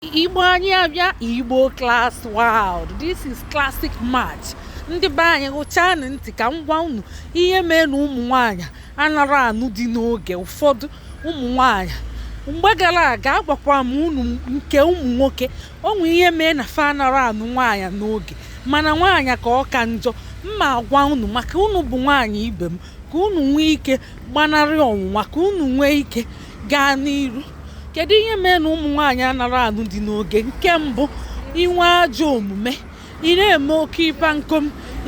igbo anyị abịa igbo class world this is classic match ndị be anyị gụchanụ ntị ka m gwa unu ihe mee na ụmụ nwanyị anarọ anụ di n'oge ụfọdụ ụmụ nwanyị mgbe gara aga agwakwa m unu nke ụmụ nwoke o nwe ihe mee na fa anarọ anụ nwaanyị n'oge mana nwaanyị ka ọ ka njọ m na-agwa unu maka unu bụ nwaanyị ibe m ka unu nwee ike gbanarị ọnwụnwa ka unu nwee ike gaa n'iru kedu ihe mee na ụmụ nwaanyị anarọ anụ di n'oge nke mbụ inwe ajọ omume ị na-eme oke ịpa nkom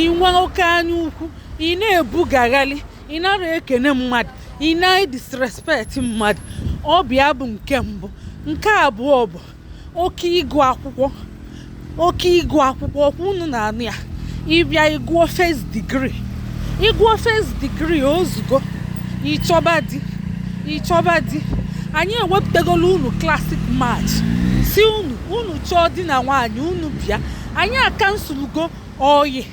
inwe oke anya ukwu ị na-ebugagharị ị narọ ekene mmadụ ị na-edisrespect mmadụ ọ bụ ya bụ nke mbụ nke abụọ bụ oke ịgụ akwụkwọ oke ịgụ akwụkwọ ọkwa unu na-anụ ya ị bịa ị gụọ first degree ị gụọ first degree ozugbo ị chọba di ị chọba di anyị ewepụtagolu unu classic match sị unu unu chọọ di na nwaanyị unu bịa anyị akansụlụgo oyi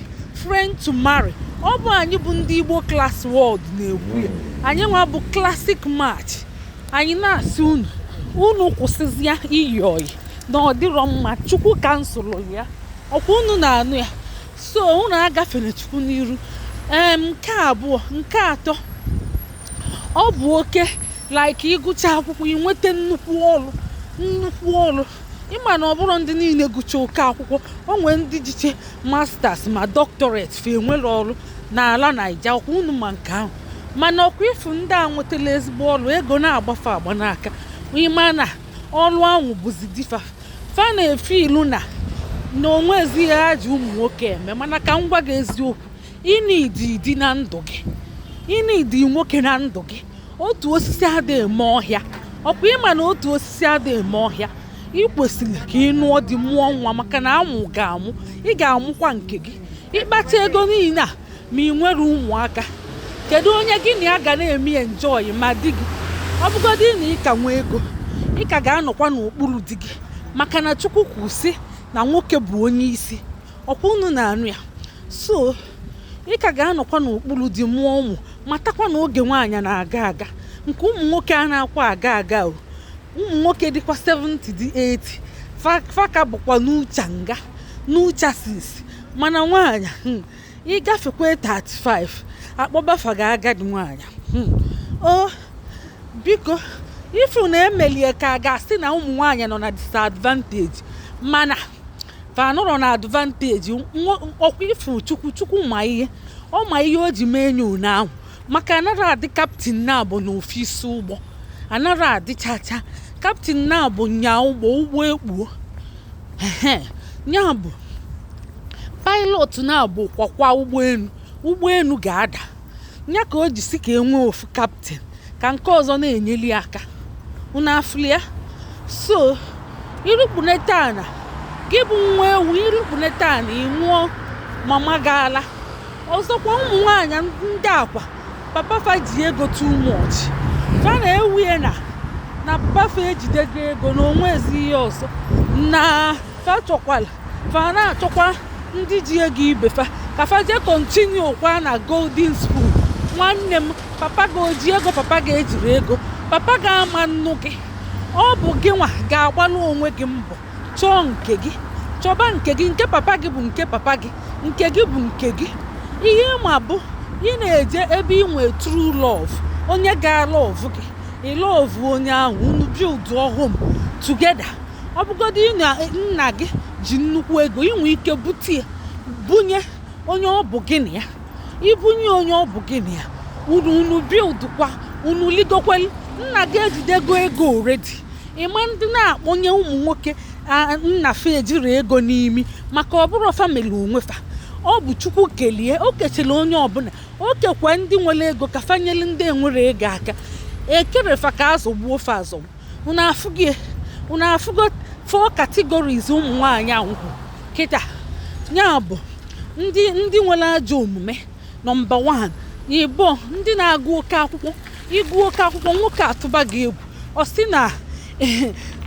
friend to marry ọ bụ anyị bụ ndị igbo class world na-ekwu ya anyị nwa bụ classic match anyị na-asị unu unu kwụsịzịa iyi oyi na ọ dịrọ mma chukwu kansụlụ ya ọkwa unu na-anụ ya so unu agafere chukwu n'iru ee nke abụọ nke atọ ọ bụ oke like ịgụcha akwụkwọ inweta nnukwu ọrụ nnukwu ọrụ ị ma na ọ bụrọ ndị niile gụcha oke akwụkwọ o nwere ndị jicha masters ma doctorate fa enwerọ ọrụ n'ala naija ọkwa unu ma nke ahụ mana ọkwa ị fụ ndị a nwetala ezigbo ọrụ ego na-agba fa agba n'aka ị ma na ọrụ ahụ bụzi di fa fa na-efeel na na o nwezi ihe ha ji ụmụ nwoke eme mana ka m gwa gị eziokwu ị need di na ndụ gị ị need nwoke na ndụ gị otu osisi adị eme ọhịa ọkwa ị ma na otu osisi adị eme ọhịa ị kwesịrị ka ị nụọ di mụọ nwa maka na a mụ gị amụ ị ga-amụkwa nke gị ị kpata ego niile a ma ị nwerọ ụmụaka kedu onye gị na ya ga na-eme enjoy ma di gị ọ bụgodị na ị ka nwee ego ị ka ga-anọkwa n'okpuru di gị maka na chukwu kwu sị na nwoke bụ onye isi ọkwa unu na-anụ ya so ị ka ga-anọkwa n'okpuru di mụọ ụmụ matakwa na oge nwaanyị na-aga aga nke ụmụ nwoke anakwa aga aga o ụmụ nwoke dịkwa 70 dị 80 fa ka bụkwa new cha nga new chassis mana nwaanyị hmm, ị gafekwa 35 akpọba fa gị agadi nwaanyị hmm, o biko ị fụ na emelie ka a ga-asị na ụmụ nwaanyị nọ na disadvantage mana fa anọrọ na advantage ọkwa ị fụ chukwu chukwu ma ihe ọ ma ihe o ji mee nyo ahụ maka anara adị kaptin naabọ n'ofu isi ụgbọ anara adịchacha kaptin naabọ nya ụgbọ ụgbọ ekpuo ya bụ pilot naabọ kwakwa ụgbọenu ụgbọenu ga-ada ya ka o ji sị ka e nwee ofu kaptin ka nke ọzọ na-enyeli aka unu afụlia so i rukpunete ana gị bụ nwa ewu i rukpunete ana ị nwụọ mama gị ala ọzọkwa ụmụ nwaanyị ndị a kwa papa fa ji ego too much fa na-ewie na na papa fa ejidego ego na o nwezi ihe ọzọ na fa chọkwala fa na-achọkwa ndị ji ego ibe fa ka fa jee kontinu kwa na golden spoon nwanne m papa gị o ji ego papa gị ejiri ego papa gị ama nnụ gị ọ bụ gị nwa ga-agbalụ onwe gị mbọ Chọọ nke gị. Chọba nke gị. Nke papa gị bụ nke papa gị. Nke gị bụ nke gị. Ihe ị ma bụ ị na-eje ebe ị nwee true love. Onye ga-alọvụ gị. Ị lọvụ onye ahụ. Unu build home together. Ọ bụgodị na nna gị ji nnukwu ego, ị nwee ike bute ya bunye onye ọ bụ gị na ya. I bunye onye ọ bụ gị na ya, unu unu build kwa, unu ligokwa elu. Nna gị ejidego ego already. ịma ndị na-akpọnye ụmụ nwoke a- nna fa ejiri ego n'imi maka ọ bụrụ fa mele onwe fa ọ bụ chukwu kelie o kechala onye ọbụla o kekwa ndị nwere ego ka fa nyere ndị enwere ego aka ekere fa ka azọgbuo fa azọgbu unu afụgo four categories ụmụ nwaanyị anwụkwụ kịta ya bụ ndị ndị nwere ajọ omume nọmba wan ịbụọ ndị na-agụ oke akwụkwọ ị gụọ oke akwụkwọ nwoke atụba gị egwu ọ sị na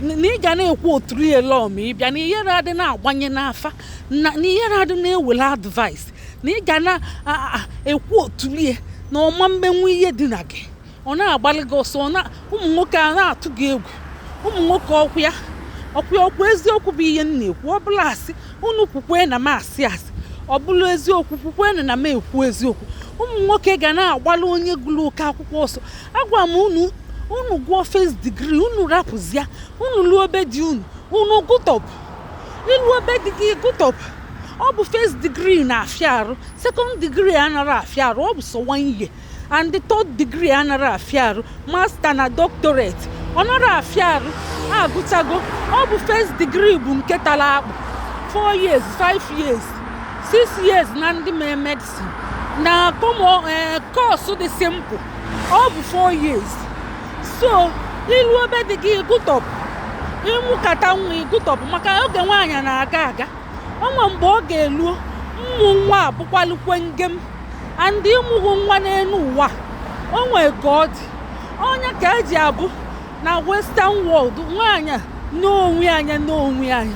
na ị ga na-ekwu otu ihe na ọ ma ị bịa na ihere adị na-agbanye n'afa na ihere adị na-ewele advaịs na ị ga na-ekwu otu ihe na ọ ma mmenwu ihe dị na gị ọ na-agbalụ gị ọsọ ụmụ nwoke a na-atụ gị egwu ụmụ nwoke ọkwa ya ọkwa ya ọkwa eziokwu bụ ihe m na-ekwu ọ bụlụ asị unu kwukwe na m asị asị ọ bụlụ eziokwu kwukwe na m ekwu eziokwu ụmụ nwoke ga na-agbalụ onye gụrụ oke akwụkwọ ọsọ agwa m unu unu gụọ first degree unu rapụzia unu luo be di unu unu gụtọpụ i luo be di gị gụtọpụ ọ bụ first degree na-afịa arụ second degree anara afịa arụ ọ bụ sọ one year and the third degree anara afịa arụ masta na doctorate ọ nara afịa arụ agụchago ọ bụ first degree bụ nke tara akpụ 4 years 5 years 6 years na ndị mee medicine na kọmọ eh, kọọsụ dị simple ọ bụ 4 years so i luo be di gị ị gụtọpụ ị mụkata nwa ị gụtọpụ maka oge nwaanyị na-aga aga o nwe mgbe ọ ga-eluo mmụ nwa abụkwalukwe ngem and ị mụghị nwa n'elu ụwa o nwee ka ọ dị ọ nya ka e ji abụ na western world nwaanyị n'onwe anya n'onwe anya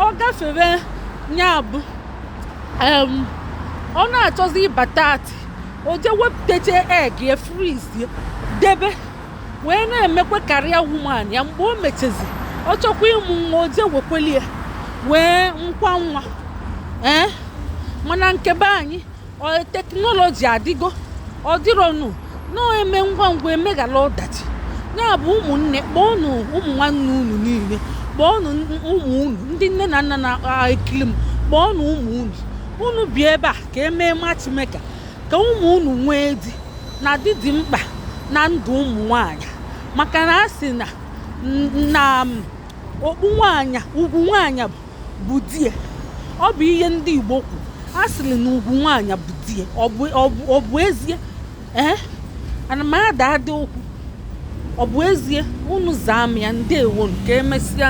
ọ gafere nya bụ ọ na-achọzi ịba thirty o je wepụtacha egg ya freeze debe wee na-emekwa career woman ya mgbe o mechezi ọ chọkwa ịmụ nwa o jee wekweli ya wee mụkwa nwa ee mana nke be anyị ọ- teknọlọji adịgo ọ dịrọnụ na e mee ngwa ngwa emeghara ọdachi ya bụ ụmụnne kpọọnụ ụmụ nwanne unu niile kpọọnụ n- ụmụ unu ndị nne na nna na-ekiri m kpọọnụ ụmụ unu unu bịa ebe a ka e mee matchmaker ka ụmụ unu nwee di na di dị mkpa na ndụ ụmụ nwanyị maka na a sị na na okpu nwanyị ugwu nwanyị bụ die ọ bụ ihe ndị Igbo kwuru a sịrị na ugwu nwanyị bụ die ọ bụ ezie ee eh? ana m ada ada okwu ọ bụ ezie unu zaa m ya ndewonụ ka emesịa